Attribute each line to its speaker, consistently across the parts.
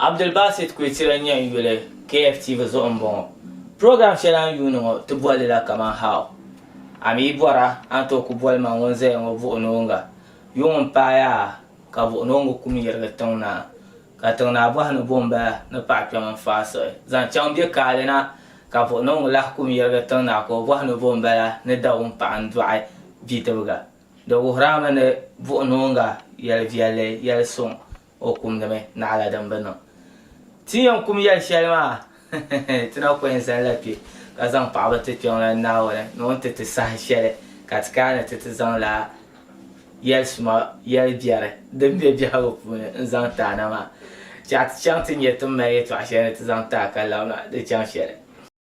Speaker 1: Abdulbasit Kwetira n-nyɛ n yuli KFTV zuɣu m-bɔŋɔ. Program shɛli a ni yuuni ŋɔ ti boli li la kaman How? A mi yi bɔri a, a ni tooi kuli boli ma ŋun zaya ŋɔ Vuhinoonga. Yuŋ m-paai a, ka Vuhinoonga kum yirigi Tiŋnaa. Ka Tiŋnaa bɔhi ni bɔ m-bala ni paɣa kpɛm n-faai siɣi zaŋ chaŋ bɛ kaali na? Ka Vuhinoonga lahi kum yirigi Tiŋnaa ka o bɔhi ni bɔ m-bala ni Dawum paɣa n-dɔɣi bidibiga. Di wuhiri a mi ni Vuhinoonga yɛli viɛlli yɛli suŋ O kumdi mi naɣila din bi niŋ. Ti ni yɛn kum yɛli shɛli maa, ti na ku yɛn zalila kpe ka zaŋ paɣiba ti Kpiɔŋlan Naawuni ni o ni ti ti saha shɛli ka ti kana ni ti ti zaŋla yɛli suma yɛli biɛri din be biɛhigu puuni n-zaŋ ti a na maa. Chɛ a ti chaŋ ti nya ti ni mali yɛtɔɣ shɛli ni ti zaŋ ti a ka labina di chaŋ shɛli.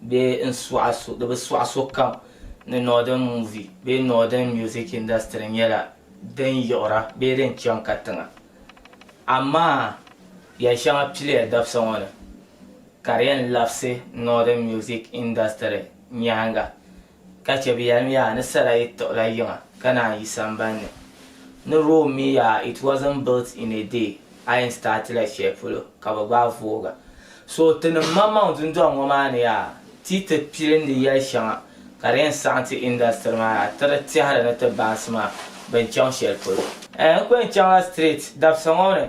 Speaker 1: Di bi sɔɣi sokam ni Northern Movie bee Northern Music Industry nyɛla din yiɣira bee din chaŋ katiŋa. Amaa yɛli shɛŋa piliya dabisa ŋɔ ni ka di yɛn labisi Northern Music Industry nyaaŋa. Ka chɛ bɛ yɛlim, Yaa, ni sala yi tiɣila yiŋa ka naan yi samban ni. Ni Rome mi yaa, it wasn't built in a day, a yɛn staatila shɛli polo ka bɛ gbaai vooga. So tinim maŋmaŋ dundɔŋ ŋɔ maa ni yaa, ti ti pilindi yɛli shɛŋa ka di yɛn saɣim ti industry maa yaa, tiri tɛhiri ni ti baansi maa bɛ ni chaŋ shɛli polo. N kuli chaŋla street dabisa ŋɔ ni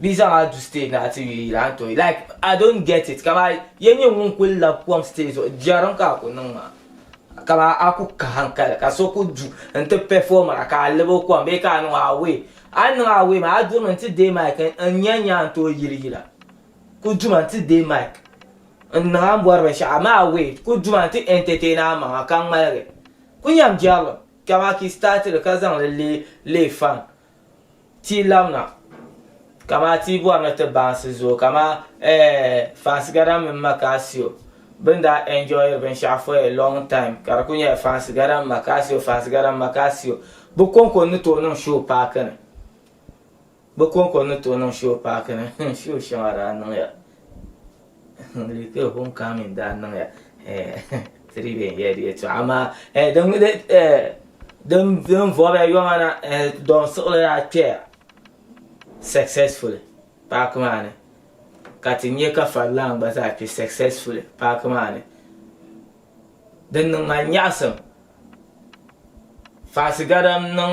Speaker 1: Bɛ zaŋ a du stage na ati yuli yila n-tooi like I don't get it ka maa ya nyɛ ŋun kuli labi kom stage zuɣu jɛrim ka a ku niŋ maa ka maa a ku ka hankali ka so ku du n-ti pɛfomira ka a labi o kom bee ka a niŋ o away a ni niŋ away maa a durimi n-ti deei mic n-nya nyaa n-tooi yili yila ku duma n-ti deei mic n-niŋ a ni bɔri binshɛɣu amaa away ku duma n-ti entertain a maŋa ka ŋmaligi ku nyam jɛrilim ka maa ka yi start li ka zaŋ li leei fan Ti labina kamaa ti bɔri ni ti baansi zuɣu kamaa eh fansigada mini Makasio bin daa enjoyiri binshɛɣu for a long time ka di kuli nyɛla fansigada mini Makasio fansigada mini Makasio bi konko n ni tooi niŋ show paaki ni bi konko n ni tooi niŋ show paaki ni show shɛŋa daa niŋya. Lihiri homecoming daa niŋya tiri bɛ yɛn yɛli yɛltɔɣa amaa din vɔbiya yɔma na dɔn siɣili daa kpɛya successfully paaki maa ni ka ti nyɛ ka farilan gba zaa kpɛ successfully paaki maa ni din niŋ ma nyaɣasim faasigadam niŋ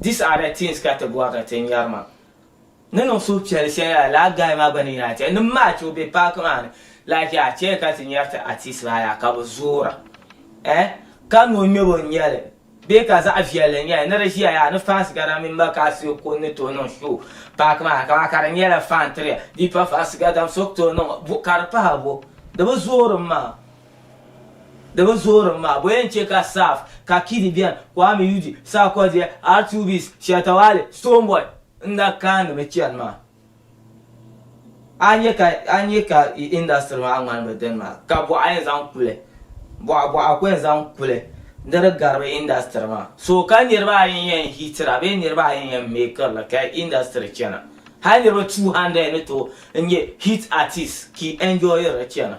Speaker 1: These are the things ka ti bɔri ni ti nyari maa. Ni niŋ suhupiɛlli shɛli yaa lala guy maa gba ni yɛn a chɛ ni match o be park maa ni like yaa chɛ ka ti nyari ti artist maa yaa ka bi zoora eh ka ni o ŋmɛbo n nyɛli. Bee ka zaɣ viɛlli n nyɛli ni di ʒiya yaa ni fans gana mini Makaa Sirikuni ni tooi niŋ show paaki maa ni kaman ka di nyɛla fan tiriya bee pa fans gadam so ku tooi niŋ o ka di pahi bo di bi zoorim maa di bi zoorim maa bo yɛn chɛ ka Saaf ka Kidi bɛni Kwame Yudi Sarkodie Artubis Shatta Wale Stonebwoy n na kaani mi chani maa. a nya ka a nya ka industry maa ŋmani bi dini maa ka bɔɣa yɛn zaŋ kuli bɔɣa bɔɣa ku yɛn zaŋ kuli ni di garibi industry maa so ka niriba ayi yɛn hitira bee niriba ayi yɛn mekirili ka industry chana hali niriba 200 ni tooi n-nyɛ hit artist ka enjoyiri chana.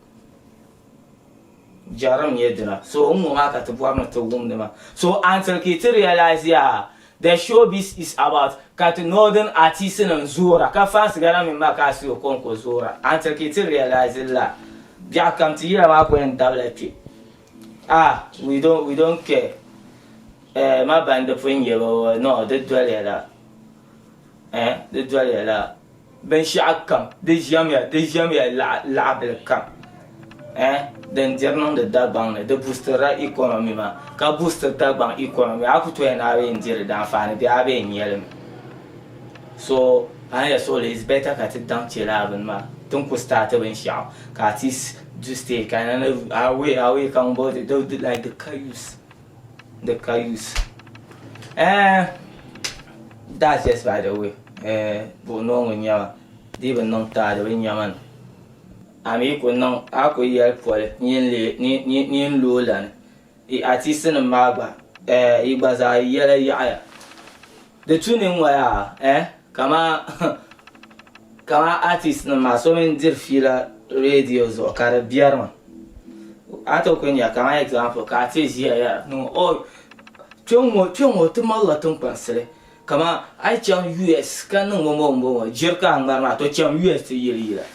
Speaker 1: Jarim nyɛ dina. So n ŋɔ maa ka ti bɔri ni ti wumdi ma. So until ka ti realize yaa the showbiz is about ka ti northern artist nim zoora ka fans gana mini ma ka a si Okonko zoora until ka ti realize li la biɛɣu kam ti yila maa ku yɛn dabila kpe. Ah we don't we don't care. Eh ma bandi pun yɛ ba no di doliya la eh di doliya la. Binshɛɣu kam di ʒiɛmya, di ʒiɛmya laɣibili kam eh din diri niŋdi Dagbaŋ ni, di busitirila economy maa, ka busitiri Dagbaŋ economy, a ku toya ni a bee n-di di daanfaani bee a bee n-nyɛ li mi. So a ni yɛn suɣi li, it's better ka ti daŋ che lala bini maa, ti ni ku start binshɛɣu ka at least du stay ka di ni away away ka ŋun boli ti di like the car use. The Cayuse. Eh, that's just by the way. Eh, buɣi noongu nyɛma. Di bi niŋ taa di bi nyɛma ni. A mi ku niŋ, a ku yɛli poli ni yin lo lani. Yi artistinim maa gba, eh, yi gba zaa yi yɛla yaɣiya. Di tu ni n-waya eh, kamaa kamaa artist nim maa so mini diri fiila radio zuɣu ka di biɛri ma. A tooi kuli nya kamaa example ka a ti ʒiya yɛra ni ŋɔ oh kpeŋŋo kpeŋŋo ti malila tinkpansili kamaa a yi chaŋ US ka niŋ bɔmbɔŋ bɔmbɔŋ jiri ka a ŋmari maa to cham US ti yili yila.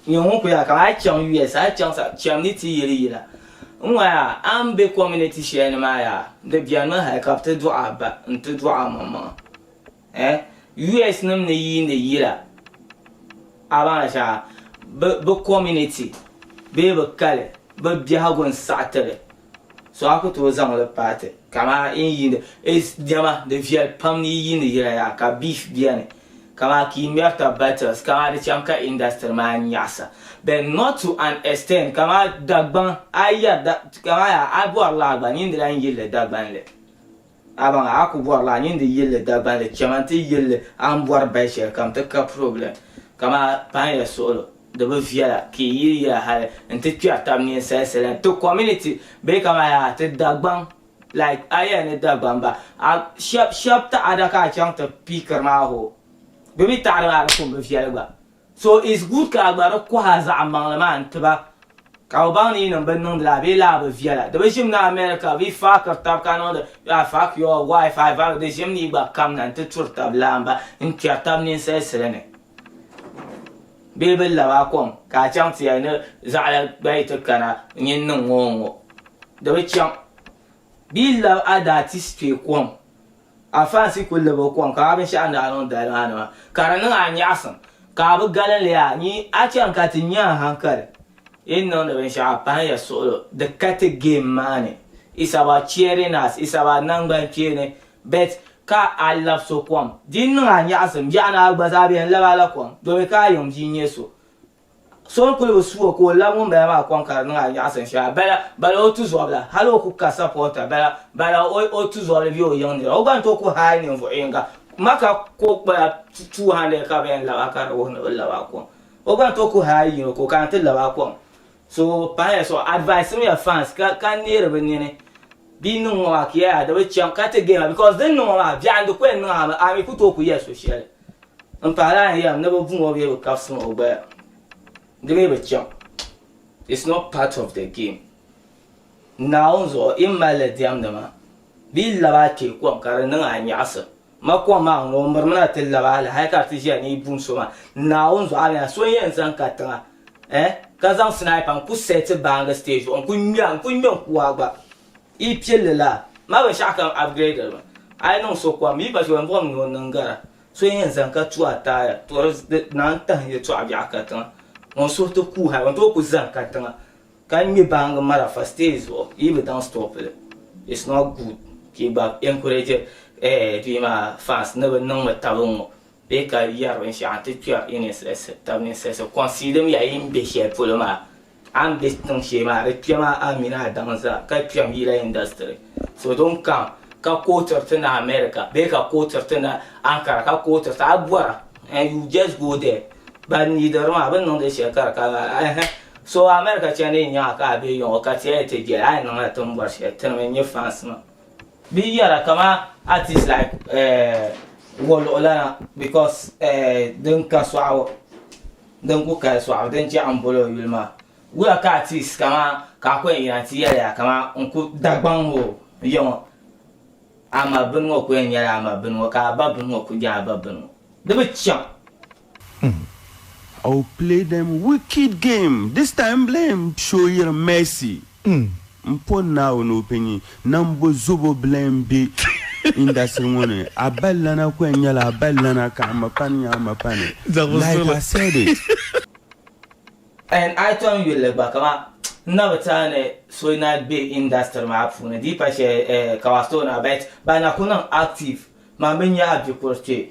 Speaker 1: N nyɛ ŋun ku ya ka a chaŋ US, a chaŋ sa, cham ni ti yeli yila. N ŋɔ yaa, a ni be community shɛli ni maa yaa, di benimi hali ka bɛ ti dɔɣi a ba nti dɔɣi a maŋmaŋa. Eh, US nim ni yiini yila, a baŋla shɛŋa, bɛ community bee bɛ kali, bɛ biɛhigu n-saɣi ti li. So a ku tooi zaŋ li paai ti kaman yi ni yiindi Ace diɛma, di viɛli pam ni yi yiindi yila yaha ka beef beni kaman ka yi ŋmɛri tab battles kaman di chaŋ ka industry maa nyaɣisa but not to an extent kaman Dagbaŋ a yi yɛri kaman yaa a bɔri li a gba niŋdila n yilli Dagbanli. Abaŋ a ku bɔrila a nyin di yilli Dagbanli chɛma n-ti yilli a ni bɔri bahi shɛlikam ti ka problem kaman paanya suɣilo di bi viɛla ka yi yiri yila hali n-ti kpɛri tab ninsali sala ti community bee kaman yaa ti Dagbaŋ like a yɛli ni Dagbaŋ ba a shɛb shɛb taɣada ka a chaŋ ti piikiri maa hoo bɛ mi taɣada maa di ku bi viɛli gba. So it's good ka a gba di kɔhi a zaɣ'maŋli maa n ti ba ka o baŋ ni yi niŋ bɛ niŋdi la a bee laa bi viɛla. Di bi ʒim ni America vi faakiri tab ka niŋdi I fuck your wife I fuck di ʒim ni yi gba kamna n ti turi tab laa m-ba n kpɛri tab ninsalisili ni bee bɛ lab a kom ka a chaŋ ti yɛli ni zaɣ'la gba yi ti kana n yi niŋ o ŋɔ di bi chaŋ bee lab a daa ti stɔyi kom A faansi kul lab o kɔŋ ka a binshɛɣu ni a niŋ dali maa nima ka di niŋ a nyaɣisim ka a bi galim li yaa nyi a chaŋ ka ti nya a hankali yi ni niŋdi binshɛɣu a pahim ya suɣulo di ka ti game maa ni it's about cheering us it's about nangban kpeeni bet ka a lab so kɔŋ di niŋ a nyaɣisim yaɣi ni a gba zaa bɛn lab a la kɔŋ domi ka a yiŋ bia nyɛ so So n-kuli bi su o ka o lab ŋumbala maa kɔŋ ka di niŋ anyaɣisim shɛha. Bala, bala o tuzɔbila, hal o ku ka sapɔɔta. Bala, bala o, o tuzɔbili be o yiŋ nira. O gba ni tooi ku hal ninvuɣ yiŋga. Maka kɔgbula 200 ka bɛ yɛn lab a ka di wuhi ni bɛ lab a kɔŋ. O gba ni tooi ku hal yino ka o kana ti lab a kɔŋ. So pahila so, adviseimiya fans ka, ka neeri bɛ nini bɛ yi niŋ ŋɔ maa ka yɛli a di bi chaŋ ka ti game la because din niŋ ŋɔ maa biɛɣu n-di ku yɛn niŋ a mi, a mi ku tooi ku yɛli so shɛli. M paɣila a yɛm ni bi vuŋ o bee bi kabisiri o gbaya di mi bi chaŋ it's not part of the game Naawuni zuɣu yi ni mali li diɛmdi maa di yi lab a kpe kom ka di niŋ a nyaɣisim ma kom maa ŋun o mirimi na ti lab a li hali ka di ti ʒiya ni yi bum so maa Naawuni zuɣu a ni nya so n yɛn zaŋ ka tiŋa eh ka zaŋ sniper n ku seti baangi stage zuɣu n ku ŋmɛ a n ku ŋmɛ n kuwaa gba Yi pilli la ma binshɛɣu kam upgraded mi. A yi niŋ so kom yi pa chiboli buɣim ni o niŋ gara so yɛn zani ka tu a taaya to di naan tahi yɛtɔɣa biɛɣu ka tiŋa ŋun suhu ti kuuhi a ban tooi ku zani ka tiŋa ka ŋme baangi marafa stage zuɣu yi bi daŋ stop li it's not good ka yi gba encourage bia maa fans ni bi niŋmi taba n ŋo bee ka yɛri binshɛɣu n ti kpɛri i ninsisi tabi ninsisi concede miya yi ni be shɛli polo maa A ni be tiŋ shee maa di kpɛm a Amina Adamu zaa ka kpɛm yila industry so din kam ka kootiri ti na America bee ka kootiri ti na Ankara ka kootiri ti a bɔra and you just go there ban nidiri maa bɛ niŋdi shɛli ka di ka ɛhɛ so America chani n nyaŋa ka a be yaŋɔ ka ti a ti jɛli a ni niŋla ti ni bɔri shɛli tiri mi n nyɛ fans maa. Bɛ yɛra kaman artist like eh wɔluɣu lana because eh din ka sɔɣu. Din ku kali sɔɣu din chɛ a ni boli o yuli maa, wuya ka a ti sika maa ka a ku yɛn yina nti yɛli a kaman n ku Dagbaŋ o ya ŋɔ? A ma bini ŋɔ ku yɛn nyɛla a ma bini ŋɔ, ka a ba bini ŋɔ ku nyɛ a ba bini ŋɔ. Di bi chaŋ. Umm I
Speaker 2: will play them wicked game this time blame show yiri mercy. N N po Naawuni o pɛ nyi, nambo zobo bila n be indasiri ŋɔ ni. A bali lana ku yɛn nyɛla a bali lana ka a ma pani nya a ma pani. Like I said it.
Speaker 1: And I tom yulli gba kaman n na bi tɛha ni so na be indasiri maa puuni di yi pa shɛli eh Kawastone a bite ba na ku niŋ active man bi nya a bikur kpe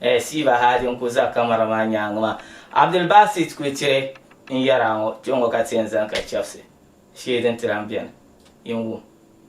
Speaker 1: Eh Siiba Haadi n ku za kamara maa nyaangi maa. Abdul Basit Kwitire n yɛri a ŋɔ kpe ŋɔ ka ti yɛn zani ka chɛbisi shee din ti lan beni yi n wum.